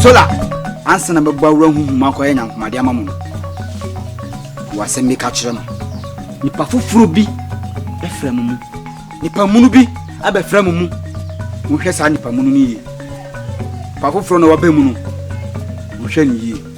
sola ansa na mɛbɔ awura huhu mu akɔyɛ nyankomade ama mo no wɔ asɛm bi ka kyerɛ no nipa foforɔ bi bɛfrɛ mo mu nipa munu bi abɛfrɛ mo mu mohwɛ saa nipa munu no yie nipa foforɔ na waba mu no mohwɛ no yie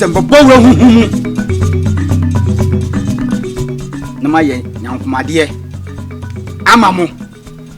sɛ nkɔbɔ wura huhu mu na mayɛ nyankomadeɛ ama mo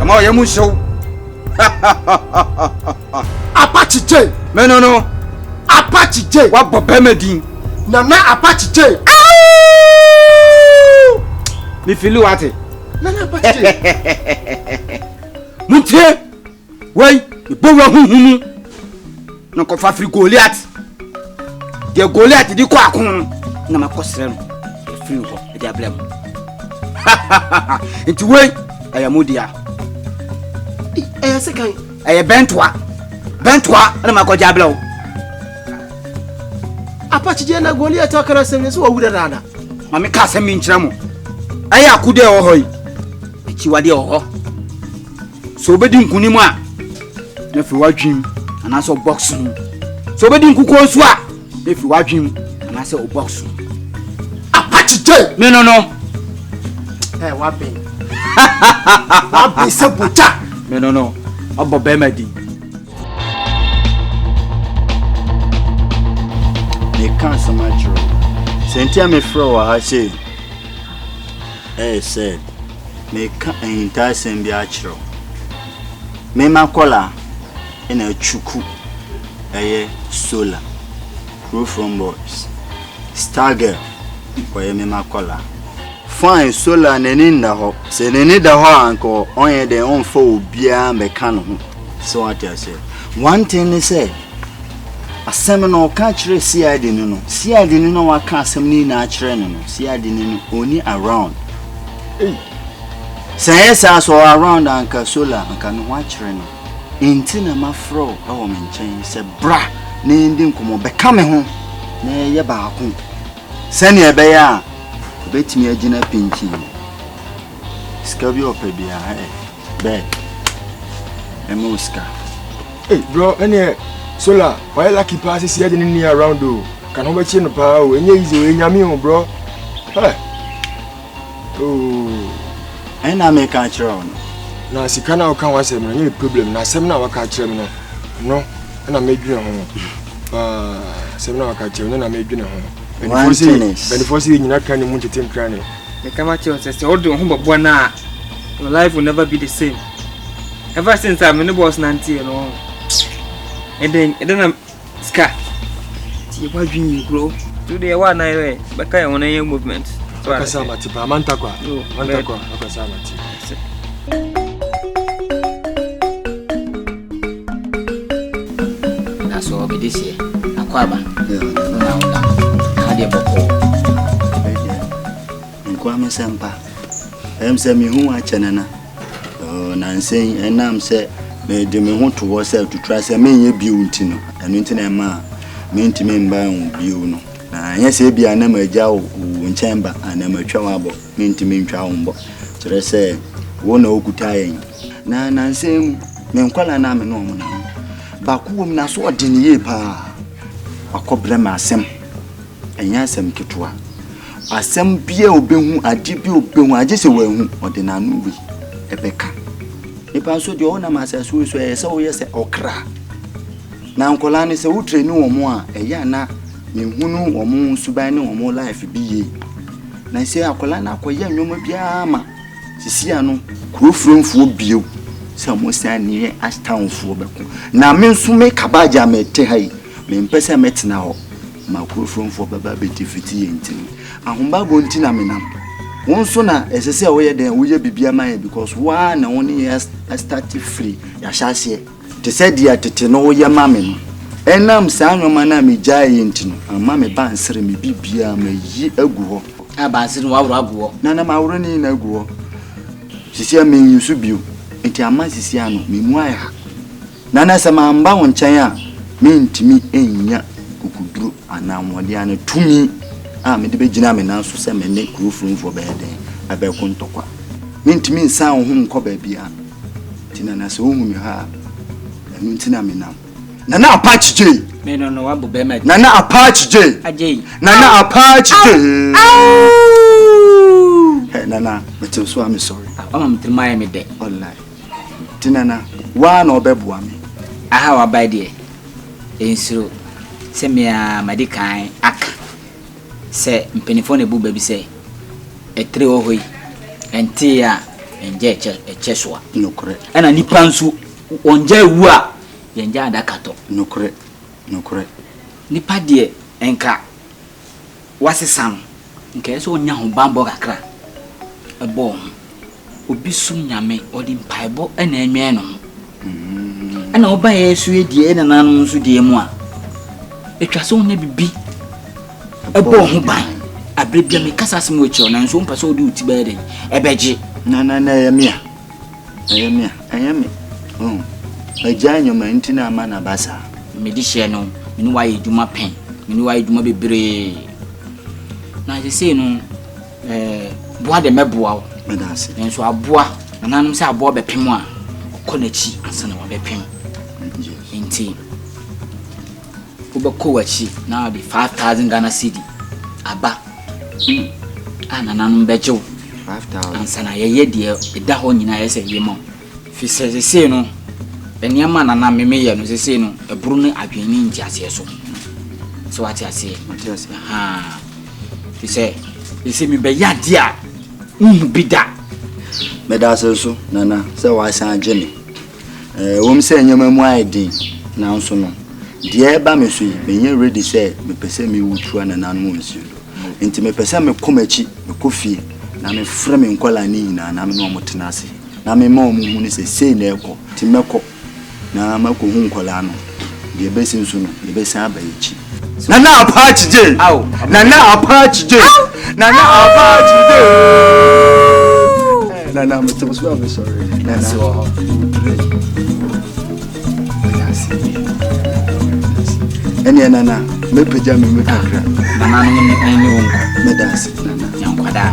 ɛma ɔyɛ mu nhyɛw apakye gye me no no apakye gye wabɔ bɛma din nana apakye gye mefili wate nana bate motie wei bɔ wura huhu mu na kɔfa firi goliat deɛ goliat de kɔ ako no na makɔsrɛ no ɛfiri hɔ ɛde abrɛ mu nti wei ɛyɛ mo dea ɛyɛ sekan ɛyɛ bɛntoa bɛntoa na makɔgye abrɛ wo Apakyedeɛ na Goliat aka no asɛm sɛ wawura dada. Ma meka asɛm bi nkyerɛ mo. Ɛyɛ akodeɛ ɛwɔ hɔ yi, akyiwadeɛ wɔ hɔ. Sɛ wobɛdi nkonim a, na firi w'adwenem anaasɛ wo box mu. Sɛ wobɛdi nkukuo nso a, na firi w'adwenem anaasɛ wo box mu. Apakyedeɛ! Me no no. Ɛ waben. Waben sɛ bogya. Me no no. Ɔbɔ bɛrima din. Meka asɛm akyerɛ wo. Sɛ nti a mefrɛ wɔ ha sei. Ɛyɛ sɛ meka ahintasɛm bi akyerɛ wo. Mema kɔla na atwuku ɛyɛ solar. Kuro from boys. Star girl ɔyɛ mema kɔla. Fine solar n'ani nna hɔ. Sɛ n'ani da hɔ a anka ɔnyɛ dɛn ɔmfa obiara mbɛka ne ho. So wate aseɛ? One thing ne sɛ, asɛm no ɔka kyerɛ CID no no, CID no na waka asɛm no nyinaa kyerɛ no no, CID no no ɔni around. Ei, sɛ ɛyɛ saa sɛ ɔwɔ around anka solar anka ne ho akyerɛ no. Nti na mafrɛ wo wɔ me nkyɛn sɛ bra na yɛndi nkɔmmɔ, bɛka me ho na yɛyɛ baako sɛnea ɛbɛyɛ a ɛbɛtumi agyina pinkyin. Sika bi ɔpɛ biara ɛ. Bɛɛ. Ɛmɛ o sika. Hey bro, ɛnɛ solar wayɛ lucky paa sisi ɛde ne ni around o. Kan ho bɛkyerɛ no paa o. Ɛnyɛ easy o, ɛnyame o bro. Hey. Oh. Ɛna me ka kyerɛ wo no. Na sika na woka ho asɛm no, ɛnyɛ problem. Na asɛm na waka kyerɛ me no, no ɛna medwene ho. Paa, asɛm na waka kyerɛ me no na medwene ho. One thing is. Bɛnifoɔ sɛ yɛ nyina ka ne mu ntete nkra ne. Meka makyerɛ wo sɛ sɛ wode wo ho bɛbɔ no a your life will never be the same. Ever since a me ne boss nanteɛ no ɛdɛn ɛdɛn na sika ti yɛ wadwin yɛ kuro. So deɛ wa nan yɛ bɛka yɛ ho na yɛ movement. Akasa amate paa mantakwa mantakwa akasa amate. nsɛmpa ɛm sɛ mehu akyɛ no na nansɛn ɛnam sɛ mede me ho to hɔ sɛ tutura sɛ menyɛ bio nti no ɛno nti na ɛma a mentumi mba ho bio no na ɛnyɛ sɛ ebia na magya wo nkyɛn ba anaa matwa wo abɔ Mentumi ntwa wo mbɔ. Kyerɛ sɛ, wo na wokuta yɛn. Na nansa yi mu, me nkwadaa no a me ne wɔn nam. Baako wɔ mu na so ɔde ne yie paa. Wakɔbrɛ me asɛm. Ɛnyɛ asɛm ketewa. Asɛm bi a ɔbɛhu, adeɛ bi a ɔbɛhu, agye sɛ wanhu, ɔde n'ano wei ɛbɛka. Nipa nso deɛ ɔwɔ nam asase wei so ɛyɛ sɛ woyɛ sɛ ɔkra. Na nkwadaa no sɛ wotrɛ ne wɔn a, ɛyɛ a na mehunu wɔn suban ne wɔn life bi yie. Na sɛ akwadaa no akɔyɛ nneɛma biara ma sisi ano kuro firinfoɔ bio sɛ wɔn san ne yɛ astanfoɔ bɛko na me nso me kabaagye a mɛte ha yi mempɛ sɛ mɛtena hɔ ma kuro firinfoɔ bɛba bɛti fiti yɛ nti no ahobago nti na menam wɔn nso na ɛsɛ sɛ woyɛ dɛn woyɛ biribi ama yɛ because waa na wɔn ne yɛ astate firi yɛahyɛ aseɛ Te sɛ deɛ tete no woyɛ ma me no. Ɛnam saa nnoɔma no a megyaeeɛ nti no, amma me ba ansere me biribiara, mayi agu hɔ. Na ba ansere no wɔaworɔ agu hɔ. Na na maworɔ ne nyinaa agu hɔ. Seesei menyi so bio, enti amma seesei ano, me mu ayɛ ha. Na na sɛ mamba wo nkyɛn a, mentumi nnya kokoduro anaa ahoɔden anaa tumi a mede bɛgyina me nan so sɛ me ne kuro furonfoɔ bɛyɛ dɛn, bɛko ntɔkwa. Mentumi nsan wo ho nkɔ baabiara. Nti nana sɛ wohu me ha a ɛno nti na menam nana apach jay nana apach jay nana apach jay hey, nana metew so a mesɔre ɔma metirima ayɛ me dɛ ɔlai nti nana woa na ɔbɛboa me aha wabae deɛ ɛnsuro sɛ mea madi kan aka Sɛ mpaninfoɔ na ɛbu ba bi sɛ, Ɛtire wɔ hɔ yi, ɛnteeɛ a, ɛngya ɛkyɛ so a. Nokorɛ. Ɛna nnipa nso, wɔngya ɛwu a, yɛngya adaka tɔ. Nokorɛ. Nokorɛ. Nipa deɛ, nka wasesa no, nka ɛyɛ sɛ ɔnya ho banbɔ kakra bɔ ho. obi som Nyame, ɔde mpaebɔ na ɛnwɛn ne ho. Ɛna woba yɛ so yɛ deɛ ɛna nanom nso deɛ mu a, ɛtwa sɛ wonya bibi ɛbɔ ho ban. Aberɛ bia mekasa asɛm wɔ akyirɛ nanso wompɛ sɛ wode wo ti bɛyɛ dɛn ɛbɛgye. Na na na ɛyɛ me a, ɛyɛ me a, ɛyɛ me. Magyae nneɛma nti na ama no aba saa. Mede hyɛ no, me ne woayɛ adwuma pɛn, me ne woayɛ adwuma bebree. Na sesei no, boa de mɛboa wo nanso aboa nananom sɛ aboa bɛpem a ɔkɔ n'akyi ansa na wabɛpem nti wobɛkɔ w'akyi na ɔde 5000 ghana cedi aba hmm. a nananom bɛgye wo ansa na yɛyɛ deɛ ɛda hɔ nyinaa yɛ sɛ yɛma wo Firi sɛ seesei no, nneɛma a na na me meyɛ no seesei no, ɛboro me adwene ne nteaseɛ so. Sɛ wate aseɛ? Mate aseɛ. Ahaa. Firi sɛ seesei mebɛyɛ adeɛ a menhu bi da. Meda ase nso, Nana, sɛ woasan agye me. Ɛwom sɛ nneɛma mu ayɛ den, nanso no, deɛ ɛreba me so yi, menyɛ ready sɛ mepɛ sɛ mewu tu anananom wɔ nsuo do. Enti mepɛ sɛ mekɔ m'akyi, mekɔ fie, na mefrɛ me nkwadaa no nyinaa na me ne wɔn tena ase. Na mema wɔn hunu sɛ sei na ɛrekɔ, nti mɛkɔ na makɔhu nkwadaa no, deɛ ɛbɛsi nso no, yɛbɛsan aba yɛn akyi. Nana Apache J. Nana Apache J. Nana Apache J. Nana, I'm so sorry. I'm sorry. Nana. So, ɛneɛ nana mɛpagya me mu kakra nana no ne wo nkwa mɛda ase nana yɛnkwadaa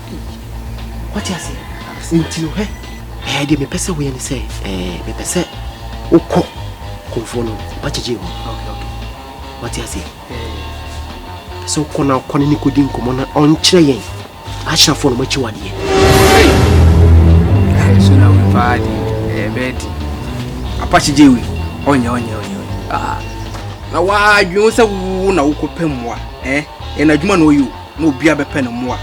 wate ase nti no hɛ ɛɛ deɛ mepɛ sɛ woyɛ ne sɛ ɛɛ mepɛ sɛ wokɔ kɔmfoɔ no bakyegye hɔ wate ase pɛ sɛ wokɔ na wokɔ ne ne kɔdi nkɔmmɔ na ɔnkyerɛ yɛn ahyafoɔ no makyi wadeɛ so na wepaa de ɛbɛɛ de apakyegye wi ɔnyɛ ɔnyɛ ɔnyɛ na wadwene wo sɛ wo na wokɔpɛ mmoa ɛna adwuma na ɔyɛ o na obiara bɛpɛ ne mmoa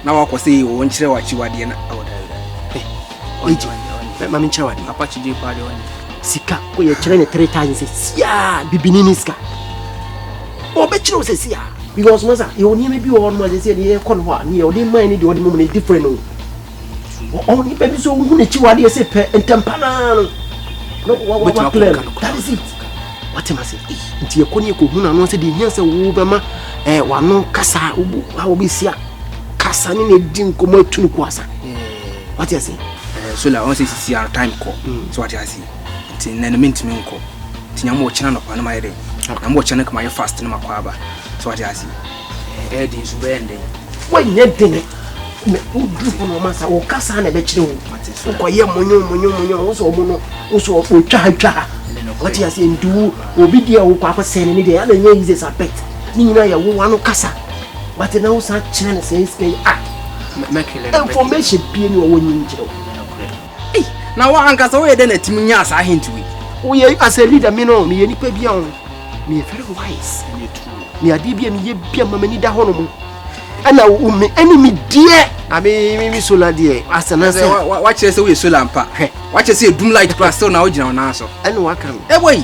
na wakɔ sɛ wɔn nkyerɛ w'akyiwadeɛ na ɛwɔ da mame nkyerɛ wade apakyegye paa deɛ ɔne sika kɔ yɛkyerɛ ne three thousand sɛ siaa bibini ne sika ɔbɛkyerɛ wo sɛ siaa because masa yɛwɔ nneɛma bi wɔ hɔ nom a sɛ sɛ ɛde yɛkɔ no hɔ a ne yɛ ɔde mmae ne deɛ ɔde mom no different o onipa bi so wohu n'akyiwadeɛ sɛ pɛ ntɛmpa naa no na waklɛ no that is it wate ma sɛ nti yɛkɔ ne yɛkɔhu no ano sɛ deɛ hia sɛ wobɛma wano kasa a wobɛsia kasa ne na ɛdi nkɔmmɔ atu no ko asa wate ase so la ɔn sɛ sisi ara time kɔ sɛ wate ase nti nnɛ no mentumi nkɔ nti nyame wɔkyena nɔpa no mayɛ dɛ nyame wɔkyena no kama yɛ fast no makɔ aba sɛ wate ase ɛyɛ den nso bɛyɛ ndɛn woanyɛ den na wodu hɔ na ɔma sa wo ka saa na ɛbɛkyerɛ wo wokɔyɛ monyo monyo monyo wo sɛ ɔmo no wo sɛ ɔtwa ha twa ha wate aseɛ nti wo obi deɛ wokɔ akɔsɛe no ne deɛ ɛna ɛnyɛ easy sa bet ne nyinaa yɛ wowa no kasa but na wo san kyerɛ no sɛ ɛsika yi a information bie ne ɔwɔ nyi nkyerɛ wo Ei, na wo ankasa woyɛ dɛn na atumi nyaa saa hint wei? Woyɛ as a leader me no meyɛ nipa bi a ho meyɛ very wise me adeɛ bi a meyɛ bi a ma m'ani da hɔ no mu ɛna wo me ɛne me deɛ ame me me solar deɛ asana sɛ wakyerɛ sɛ woyɛ solar mpa hwɛ wakyerɛ sɛ ɛdum light kora still na wogyina wo naa so ɛne waka no ɛbɔ yi